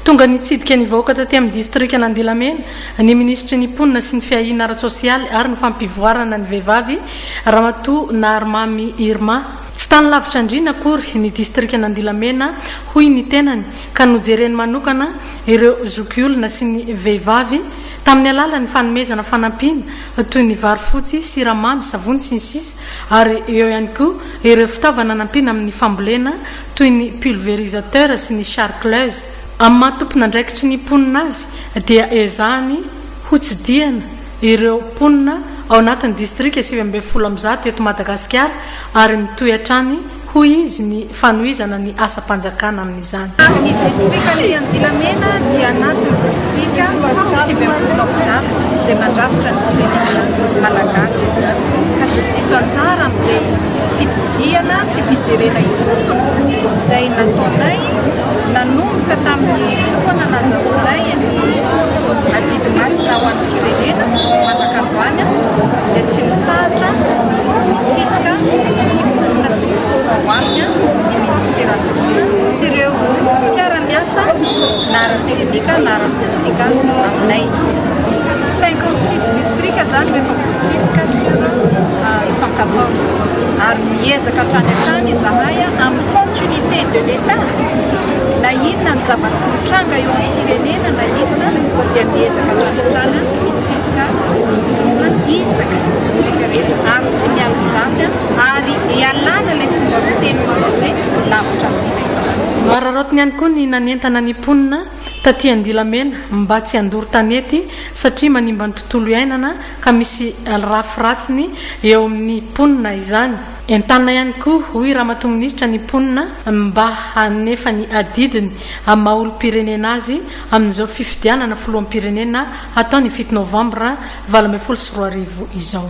Tonga nitsidika ny vahoaka taty amin'ny distrikan'Andilamena ny minisitry ny Mponina sy ny fiahiana ara-tsosialy ary ny fampivoarana ny vehivavy, Ramatoa Naharimamy Irma. Tsy tany lavitra andriana akory ny distrikan'Andilamena hoy ny tenany ka nojereny manokana ireo zokiolona sy ny vehivavy tamin'ny alalan'ny fanomezana fanampiana toy ny vary fotsy, siramamy, savony sy ny sisa ary eo ihany koa ireo fitaovana nampiana amin'ny fambolena toy ny pulvérisateur sy ny charcleuse. Amin'ny maha tompon'andraikitry ny mponina azy dia ezahany hotsidihana ireo mponina ao anatin'ny distrika sivy ambin'ny folo amby zato eto Madagasikara ary mitohy hatrany hoy izy ny fanohizana ny asam-panjakana amin'izany. Ny distrikan'ny Andilamena dia anatin'ny distrika sivy ambin'ny folo amby zato izay mandrafitra ny firenena malagasy ka tsy diso anjara amin'izay fitsidihana sy fijerena ifotony izay nataonay nanomboka tamin'ny fotoana nazahoanay ny adidy masina ho an'ny firenena mandrak'androany dia tsy mitsahatra mitsidika ny mponina sy ny vahoaka ao aminy ny minisiteran'ny mponina sy ireo mpiara-miasa na ara-teknika na ara-politika aminay 56 distrika izany rehefa Tsindrika sur sans quatorze ary miezaka hatrany hatrany izahay amin'ny continuité de l'Etat na inona ny zava-mitranga eo amin'ny firenena na inona dia miezaka hatrany hatrany mitsidika olona isaka ny distrika rehetra ary tsy mialonjafy ary ialana ilay fomba fiteny manao hoe lavitra andriana izany. Nohararaotiny ihany koa ny nanentana ny mponina taty Andilamena mba tsy handoro tanety satria manimba ny tontolo iainana ka misy lrafy ratsiny eo amin'ny mponina izany. Entanina ihany koa hoy Ramatoa Minisitra ny mponina mba hanefa ny adidiny amin'ny maha olom-pirenena azy amin'izao fifidianana filoham-pirenena hatao ny fito novambra valo ambin'ny folo sy roa arivo izao.